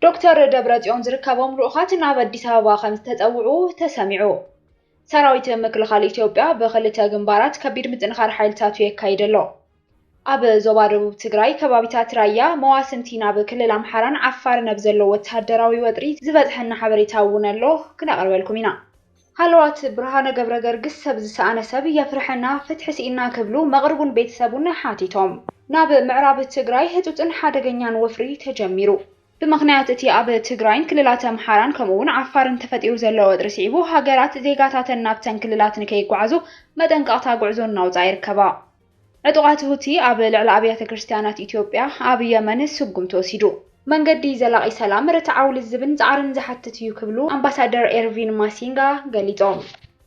ዶክተር ደብረፅዮን ዝርከቦም ልኡኻት ናብ ኣዲስ ኣበባ ከምዝተፀውዑ ተሰሚዑ። ሰራዊት ምክልኻል ኢትዮጵያ ብኽልተ ግንባራት ከቢድ ምጥንኻር ሓይልታቱ የካይድ ኣሎ። ኣብ ዞባ ደቡብ ትግራይ ከባቢታት ራያ መዋስንቲ ናብ ክልል ኣምሓራን ዓፋርን ኣብ ዘሎ ወተሃደራዊ ወጥሪ ዝበፅሐና ሓበሬታ እውን ኣሎ ክነቕርበልኩም ኢና። ሃለዋት ብርሃነ ገብረገርግስ ሰብ ዝሰኣነ ሰብ የፍርሐና ፍትሒ ስኢንና ክብሉ መቅርቡን ቤተሰቡን ሓቲቶም። ናብ ምዕራብ ትግራይ ህፁፅን ሓደገኛን ወፍሪ ተጀሚሩ። ብምኽንያት እቲ ኣብ ትግራይን ክልላት ኣምሓራን ከምኡ እውን ዓፋርን ተፈጢሩ ዘሎ ወጥሪ ስዒቡ ሃገራት ዜጋታተን ናብተን ክልላት ንከይጓዓዙ መጠንቀቕታ ጉዕዞ እናውፅኣ ይርከባ። ዕጡቓት ሁቲ ኣብ ልዕሊ ኣብያተ ክርስትያናት ኢትዮጵያ ኣብ የመን ስጉምቲ ወሲዱ። መንገዲ ዘላቒ ሰላም ርትዓዊ ልዝብን ፃዕርን ዝሓትት እዩ ክብሉ ኣምባሳደር ኤርቪን ማሲንጋ ገሊፆም።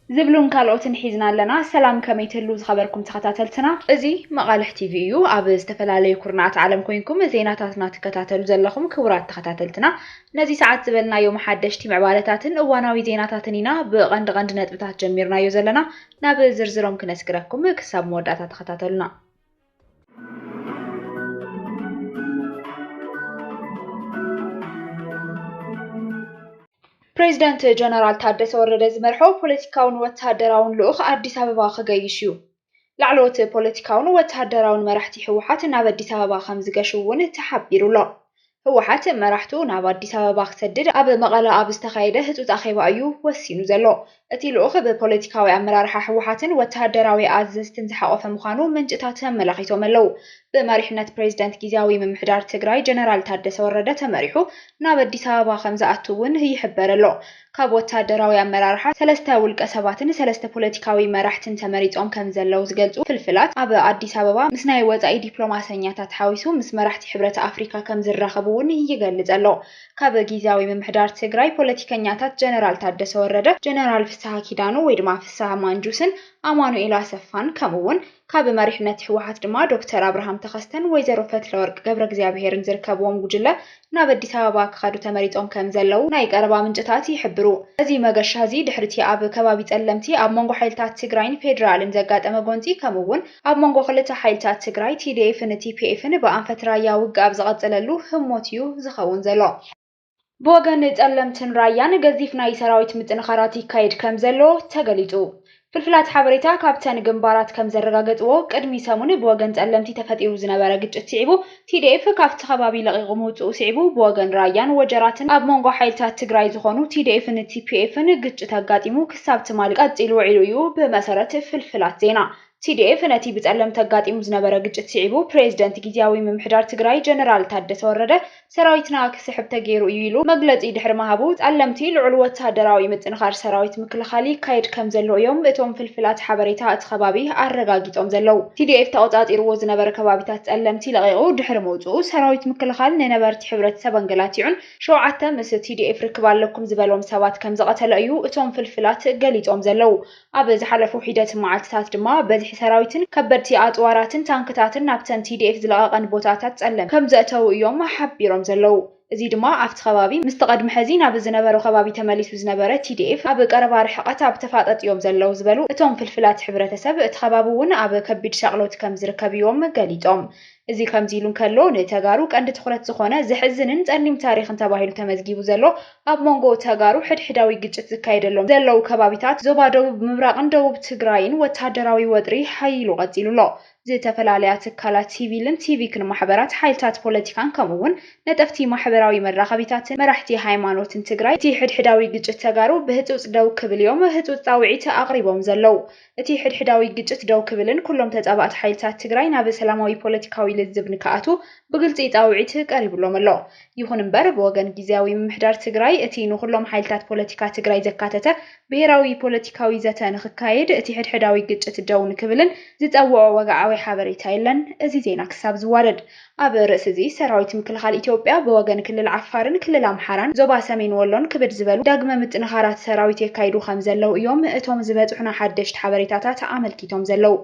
ዝብሉን ካልኦትን ሒዝና ኣለና። ሰላም ከመይ ትህልው ዝኸበርኩም ተኸታተልትና። እዚ መቓልሕ ቲቪ እዩ። ኣብ ዝተፈላለዩ ኩርናዓት ዓለም ኮይንኩም ዜናታትና ትከታተሉ ዘለኹም ክቡራት ተኸታተልትና ነዚ ሰዓት ዝበልናዮም ሓደሽቲ ምዕባለታትን እዋናዊ ዜናታትን ኢና ብቐንዲ ቐንዲ ነጥብታት ጀሚርናዮ ዘለና ናብ ዝርዝሮም ክነስግረኩም ክሳብ መወዳእታ ተኸታተሉና። ፕሬዚዳንት ጀነራል ታደሰ ወረደ ዝመርሖ ፖለቲካውን ወታደራውን ልኡኽ ኣዲስ ኣበባ ክገይሽ እዩ። ላዕለዎት ፖለቲካውን ወታደራውን መራሕቲ ህወሓት ናብ ኣዲስ ኣበባ ከምዝገሹ እውን ተሓቢሩ'ሎ። ህወሓት መራሕቱ ናብ ኣዲስ ኣበባ ክሰድድ ኣብ መቐለ ኣብ ዝተኻየደ ህፁፅ ኣኼባ እዩ ወሲኑ ዘሎ። እቲ ልኡኽ ብፖለቲካዊ ኣመራርሓ ህወሓትን ወተሃደራዊ ኣዘዝትን ዝሓቖፈ ምዃኑ ምንጭታት ኣመላኺቶም ኣለው። ብመሪሕነት ፕሬዝደንት ጊዚያዊ ምምሕዳር ትግራይ ጀነራል ታደሰ ወረደ ተመሪሑ ናብ ኣዲስ ኣበባ ከምዝኣቱ እውን ይሕበር ኣሎ። ካብ ወታደራዊ ኣመራርሓ ሰለስተ ውልቀ ሰባትን ሰለስተ ፖለቲካዊ መራሕትን ተመሪፆም ከምዘለው ዝገልፁ ፍልፍላት፣ ኣብ ኣዲስ ኣበባ ምስ ናይ ወፃኢ ዲፕሎማሰኛታት ሓዊሱ ምስ መራሕቲ ሕብረት ኣፍሪካ ከምዝራኸቡ እውን ይገልፅ ኣሎ። ካብ ጊዚያዊ ምምሕዳር ትግራይ ፖለቲከኛታት ጀነራል ታደሰ ወረደ፣ ጀነራል ፍስሃ ኪዳኑ ወይ ድማ ፍስሃ ማንጁስን ኣማኑኤል ኣሰፋን ከምኡ እውን ካብ መሪሕነት ህወሓት ድማ ዶክተር ኣብርሃም ተኸስተን ወይዘሮ ፈትለወርቅ ገብረእግዚኣብሄርን ዝርከብዎም ጉጅለ ናብ ኣዲስ ኣበባ ክኸዱ ተመሪጾም ከም ዘለዉ ናይ ቀረባ ምንጭታት ይሕብሩ። እዚ መገሻ'ዚ ድሕሪ'ቲ ኣብ ከባቢ ጸለምቲ ኣብ መንጎ ሓይልታት ትግራይን ፌደራልን ዘጋጠመ ጎንጺ ከምኡ'ውን ኣብ መንጎ ክልተ ሓይልታት ትግራይ፣ ቲዲኤፍን ቲፒኤፍን፣ ብኣንፈት ራያ ውግእ ኣብ ዝቐጸለሉ ህሞት'ዩ ዝኸውን ዘሎ። ብወገን ፀለምትን ራያን ገዚፍ ናይ ሰራዊት ምጥንኻራት ይካየድ ከምዘሎ ተገሊፁ። ፍልፍላት ሓበሬታ ካብተን ግንባራት ከምዘረጋገፅዎ ቅድሚ ሰሙን ብወገን ፀለምቲ ተፈጢሩ ዝነበረ ግጭት ስዒቡ ቲዲኤፍ ካፍቲ ከባቢ ለቒቑ ምውፅኡ ስዒቡ ብወገን ራያን ወጀራትን ኣብ መንጎ ሓይልታት ትግራይ ዝኾኑ ቲዲኤፍን ቲፒኤፍን ግጭት ኣጋጢሙ ክሳብ ትማሊ ቀፂሉ ውዒሉ እዩ ብመሰረት ፍልፍላት ዜና TDF ነቲ ብፀለምቲ ኣጋጢሙ ዝነበረ ግጭት ስዒቡ ፕሬዝደንት ጊዚያዊ ምምሕዳር ትግራይ ጀነራል ታደሰ ወረደ ሰራዊትና ክስሕብ ተገይሩ እዩ ኢሉ መግለፂ ድሕሪ ምሃቡ ፀለምቲ ልዑል ወታደራዊ ምጥንኻር ሰራዊት ምክልኻል ይካየድ ከምዘሎ እዮም እቶም ፍልፍላት ሓበሬታ እቲ ከባቢ ኣረጋጊፆም ዘለው። TDF ተቖፃፂርዎ ዝነበረ ከባቢታት ፀለምቲ ለቒቑ ድሕሪ ምውፅኡ ሰራዊት ምክልኻል ንነበርቲ ሕብረተሰብ ኣንገላቲዑን ሸውዓተ ምስ TDF ርክብ ኣለኩም ዝበሎም ሰባት ከምዝቐተለ እዩ እቶም ፍልፍላት ገሊፆም ዘለው። ኣብ ዝሓለፉ ሒደት መዓልቲታት ድማ በዝሒ ሰራዊትን ከበድቲ ኣፅዋራትን ታንክታትን ናብተን TDF ዝለቐቐን ቦታታት ፀለም ከምዘእተዉ እዮም ሓቢሮም ዘለዉ። እዙይ ድማ ኣፍቲ ከባቢ ምስቲ ቐድሚ ሕዚ ናብ ዝነበሮ ከባቢ ተመሊሱ ዝነበረ TDF ኣብ ቐረባ ርሕቐት ኣብ ተፋጠጥ እዮም ዘለዉ ዝበሉ እቶም ፍልፍላት ሕብረተሰብ እቲ ከባቢ እውን ኣብ ከቢድ ሻቕሎት ከምዝርከብ እዮም ገሊፆም። እዚ ከምዚ ኢሉ እንከሎ፣ ንተጋሩ ቀንዲ ትኹረት ዝኾነ ዘሕዝንን ጸሊም ታሪኽን ተባሂሉ ተመዝጊቡ ዘሎ፣ ኣብ ሞንጎ ተጋሩ ሕድሕዳዊ ግጭት ዝካየደሎም ዘለዉ ከባቢታት ዞባ ደቡብ ምብራቕን ደቡብ ትግራይን ወተሃደራዊ ወጥሪ ሓዪሉ ቀጺሉ ኣሎ። ዝተፈላለያ ትካላት ሲቪልን ሲቪክን ማሕበራት፣ ሓይልታት ፖለቲካን ከምኡ'ውን ነጠፍቲ ማሕበራዊ መራኸቢታትን መራሕቲ ሃይማኖትን ትግራይ፣ እቲ ሕድሕዳዊ ግጭት ተጋሩ ብህጹጽ ደው ክብል'ዮም ህጹጽ ጻውዒት ኣቕሪቦም ዘለዉ። እቲ ሕድሕዳዊ ግጭት ደው ክብልን ኩሎም ተፃባእቲ ሓይልታት ትግራይ ናብ ሰላማዊ ፖለቲካዊ ልዝብ ንክኣትው ብግልፂ ፃውዒት ቀሪቡሎም ኣሎ። ይኹን እምበር ብወገን ጊዚያዊ ምምሕዳር ትግራይ እቲ ንኹሎም ሓይልታት ፖለቲካ ትግራይ ዘካተተ ብሄራዊ ፖለቲካዊ ዘተ ንክካየድ እቲ ሕድሕዳዊ ግጭት ደው ንክብልን ዝፀውዖ ወግዓዊ ሓበሬታ የለን። እዚ ዜና ክሳብ ዝዋደድ ኣብ ርእሲ'ዚ፣ ሰራዊት ምክልኻል ኢትዮጵያ ብወገን ክልል ዓፋርን ክልል ኣምሓራን ዞባ ሰሜን ወሎን ክብድ ዝበሉ ዳግመ ምጥንኻራት ሰራዊት የካይዱ ከምዘለዉ እዮም እቶም ዝበጽሑና ሓደሽቲ ሓበሬታታት ኣመልኪቶም ዘለዉ።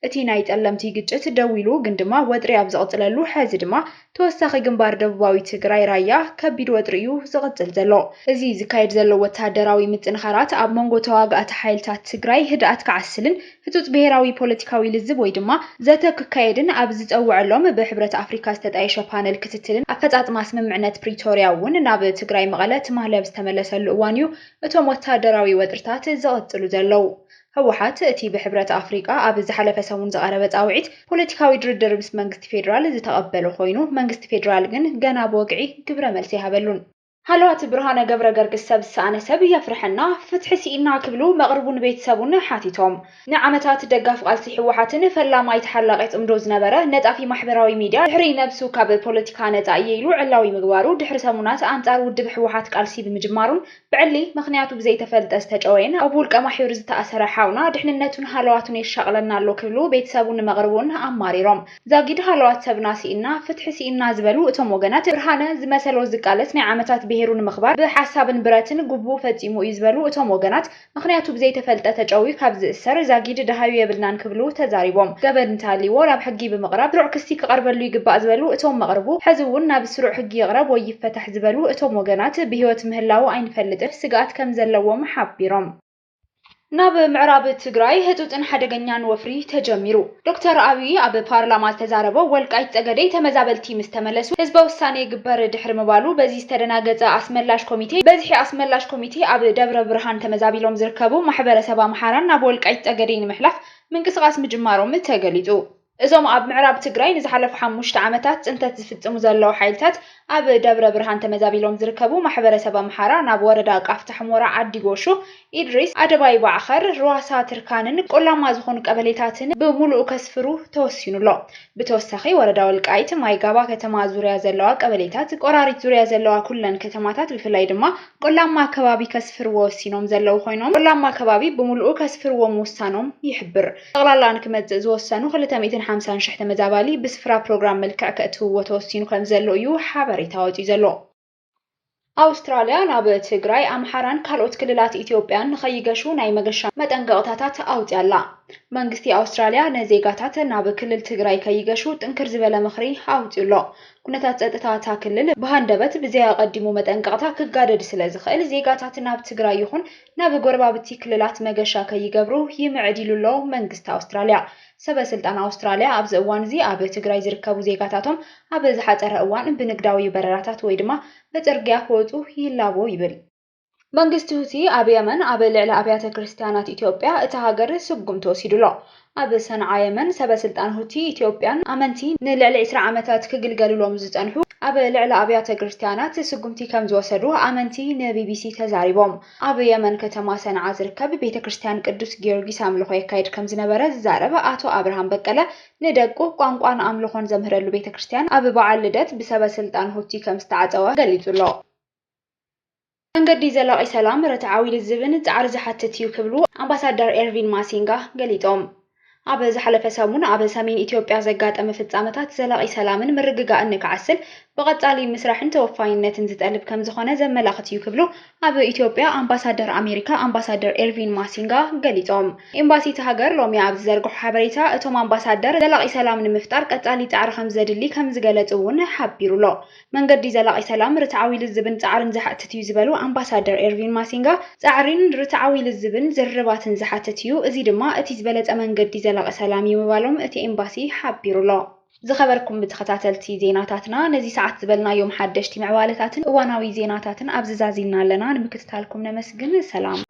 እቲ ናይ ጠለምቲ ግጭት ደው ኢሉ ግን ድማ ወጥሪ ኣብ ዝቕጽለሉ ሕዚ ድማ ተወሳኺ ግንባር ደቡባዊ ትግራይ ራያ ከቢድ ወጥሪ እዩ ዝቕጽል ዘሎ። እዚ ዝካየድ ዘሎ ወተሃደራዊ ምጥንኻራት ኣብ መንጎ ተዋጋእቲ ሓይልታት ትግራይ ህድኣት ክዓስልን፣ ህጹጽ ብሄራዊ ፖለቲካዊ ልዝብ ወይ ድማ ዘተ ክካየድን ኣብ ዝጸወዐሎም ብሕብረት ኣፍሪካ ዝተጣየሸ ፓነል ክትትልን ኣፈጻጽማ ስምምዕነት ፕሪቶርያ እውን ናብ ትግራይ መቐለ ትማሊ ኣብ ዝተመለሰሉ እዋን እዩ እቶም ወታደራዊ ወጥርታት ዝቕጽሉ ዘለዉ። ህወሓት እቲ ብሕብረት ኣፍሪቃ ኣብ ዝሓለፈ ሰሙን ዝቐረበ ጻውዒት ፖለቲካዊ ድርድር ምስ መንግስቲ ፌዴራል ዝተቐበሎ ኮይኑ መንግስቲ ፌዴራል ግን ገና ብወግዒ ግብረ መልሲ ኣይሃበሉን። ሃለዋት ብርሃነ ገብረገርግስ ሰብ ዝሰኣነ ሰብ የፍርሐና፣ ፍትሒ ስኢንና ክብሉ መቕርቡን ቤተሰቡን ሓቲቶም። ንዓመታት ደጋፊ ቃልሲ ህወሓትን ፈላማይ ተሓላቒ ጽምዶ ዝነበረ ነጣፊ ማሕበራዊ ሚድያ ድሕሪ ነብሱ ካብ ፖለቲካ ነጻ እየ ኢሉ ዕላዊ ምግባሩ ድሕሪ ሰሙናት ኣንጻር ውድብ ህወሓት ቃልሲ ብምጅማሩን ብዕሊ ምኽንያቱ ብዘይተፈልጠ ዝተጨወየን ኣብ ውልቀ ማሕዩር ዝተኣሰረ ሓውና ድሕንነቱን ሃለዋቱን የሻቕለና ኣሎ ክብሉ ቤተሰቡን መቕርቡን ኣማሪሮም ዛጊድ ሃለዋት ሰብና ስኢንና፣ ፍትሒ ስኢንና ዝበሉ እቶም ወገናት፣ ብርሃነ ዝመሰሎ ዝቃለስ ናይ ዓመታት ብሄሩ ንምኽባር ብሓሳብን ብረትን ጉቡኡ ፈፂሙ እዩ ዝበሉ እቶም ወገናት፣ ምኽንያቱ ብዘይተፈልጠ ተጨውዩ ካብ ዝእሰር ዛጊድ ደሃዩ የብልናን ክብሉ ተዛሪቦም። ገበን እንተሃልይዎ ናብ ሕጊ ብምቕራብ ስሩዕ ክሲ ክቐርበሉ ይግባእ ዝበሉ እቶም መቕርቡ፣ ሕዚ እውን ናብ ስሩዕ ሕጊ ይቕረብ ወይ ይፈታሕ ዝበሉ እቶም ወገናት፣ ብህይወት ምህላዉ ኣይንፈልጥን ስግኣት ከምዘለዎም ሓቢሮም። ናብ ምዕራብ ትግራይ ህፁፅን ሓደገኛን ወፍሪ ተጀሚሩ። ዶክተር ኣብይ ኣብ ፓርላማ ዝተዛረቦ ወልቃይት ፀገዴ ተመዛበልቲ ምስ ተመለሱ ህዝበ ውሳነ ይግበር ድሕሪ ምባሉ በዚ ዝተደናገፀ ኣስመላሽ ኮሚቴ በዝሒ ኣስመላሽ ኮሚቴ ኣብ ደብረ ብርሃን ተመዛቢሎም ዝርከቡ ማሕበረሰብ ኣምሓራን ናብ ወልቃይት ፀገዴ ንምሕላፍ ምንቅስቓስ ምጅማሮም ተገሊፁ። እዞም ኣብ ምዕራብ ትግራይ ንዝሓለፉ ሓሙሽተ ዓመታት ፅንተት ዝፍፅሙ ዘለዉ ሓይልታት ኣብ ደብረ ብርሃን ተመዛቢሎም ዝርከቡ ማሕበረሰብ ኣምሓራ ናብ ወረዳ ቃፍታ ሕሞራ ዓዲ ጎሹ፣ ኢድሪስ፣ ኣደባይ ባዕኸር፣ ርዋሳ ትርካንን ቆላማ ዝኾኑ ቀበሌታትን ብሙሉኡ ከስፍሩ ተወሲኑ ኣሎ። ብተወሳኺ ወረዳ ወልቃይት፣ ማይ ጋባ ከተማ ዙርያ ዘለዋ ቀበሌታት፣ ቆራሪት ዙርያ ዘለዋ ኩለን ከተማታት ብፍላይ ድማ ቆላማ ከባቢ ከስፍርዎ ወሲኖም ዘለዉ ኮይኖም ቆላማ ከባቢ ብሙሉኡ ከስፍርዎ ምውሳኖም ይሕብር። ጠቕላላ ንክመጽእ ዝወሰኑ ክልተ ሚእትን ሓምሳን ሽሕ ተመዛባሊ ብስፍራ ፕሮግራም መልክዕ ከእትውዎ ተወሲኑ ከምዘሎ እዩ ሓበሬታ ወጺኡ ዘሎ። ኣውስትራልያ ናብ ትግራይ፣ ኣምሓራን ካልኦት ክልላት ኢትዮጵያን ንኸይገሹ ናይ መገሻ መጠንቀቕታታት ኣውጺኣ ኣላ። መንግስቲ ኣውስትራልያ ንዜጋታት ናብ ክልል ትግራይ ከይገሹ ጥንክር ዝበለ ምኽሪ ኣውጺኡ ኣሎ። ኩነታት ጸጥታ እታ ክልል ብሃንደበት ብዘይ ኣቐዲሙ መጠንቀቕታ ክጋደድ ስለዝኽእል ዜጋታት ናብ ትግራይ ይኹን ናብ ጎረባብቲ ክልላት መገሻ ከይገብሩ ይምዕድ'ዩ'ሎ መንግስቲ ኣውስትራልያ። ሰበ ስልጣን ኣውስትራልያ ኣብዚ እዋን'ዚ ኣብ ትግራይ ዝርከቡ ዜጋታቶም ኣብ ዝሓጸረ እዋን ብንግዳዊ በረራታት ወይ ድማ ብጽርግያ ክወጹ ይላቦ ይብል። መንግስቲ ሁቲ ኣብ የመን ኣብ ልዕሊ ኣብያተ ክርስትያናት ኢትዮጵያ እታ ሃገር ስጉምቲ ወሲዱ'ሎ። ኣብ ሰንዓ የመን፣ ሰበ ስልጣን ሁቲ፣ ኢትዮጵያን ኣመንቲ ንልዕሊ ዕስራ ዓመታት ክግልገሉሎም ዝጸንሑ ኣብ ልዕሊ ኣብያተ ግርስትያናት ስጉምቲ ከምዝወሰዱ ኣመንቲ ንቢቢሲ ተዛሪቦም። ኣብ የመን ከተማ ሰንዓ ዝርከብ ቤተ ክርስትያን ቅዱስ ጊዮርጊስ ኣምልኾ የካይድ ከምዝነበረ ዝዛረብ ኣቶ ኣብርሃም በቀለ ንደቁ ቋንቋን ኣምልኾን ዘምህረሉ ቤተ ክርስትያን ኣብ በዓል ልደት ብሰበ ስልጣን ሁቲ ከምዝተዓጸወ ገሊጹ'ሎ። መንገዲ ዘላቒ ሰላም ርትዓዊ ልዝብን ፃዕሪ ዝሓትት እዩ ክብሉ ኣምባሳደር ኤርቪን ማሲንጋ ገሊፆም። ኣብ ዝሓለፈ ሰሙን ኣብ ሰሜን ኢትዮጵያ ዘጋጠመ ፍፃመታት ዘላቒ ሰላምን ምርግጋእን ንክዓስል ብቐፃሊ ምስራሕን ተወፋይነትን ዝጠልብ ከምዝኾነ ዘመላኽት እዩ ክብሉ ኣብ ኢትዮጵያ ኣምባሳደር ኣሜሪካ ኣምባሳደር ኤርቪን ማሲንጋ ገሊፆም። ኤምባሲ እታ ሃገር ሎሚ ኣብ ዝዘርግሖ ሓበሬታ እቶም ኣምባሳደር ዘላቒ ሰላም ንምፍጣር ቀፃሊ ፃዕሪ ከምዘድሊ ከምዝገለፁ እውን ሓቢሩ'ሎ። መንገዲ ዘላቒ ሰላም ርትዓዊ ልዝብን ፃዕሪን ዝሓትት እዩ ዝበሉ ኣምባሳደር ኤርቪን ማሲንጋ፣ ፃዕሪን ርትዓዊ ልዝብን ዝርርባትን ዝሓትት እዩ፣ እዚ ድማ እቲ ዝበለፀ መንገዲ ዘላቒ ሰላም እዩ ምባሎም እቲ ኤምባሲ ሓቢሩ ኣሎ። ዝኸበርኩም ተኸታተልቲ ዜናታትና ነዚ ሰዓት ዝበልናዮም ሓደሽቲ ምዕባለታትን እዋናዊ ዜናታትን ኣብዚ ዛዚምና ኣለና፣ ንምክትታልኩም ነመስግን። ሰላም!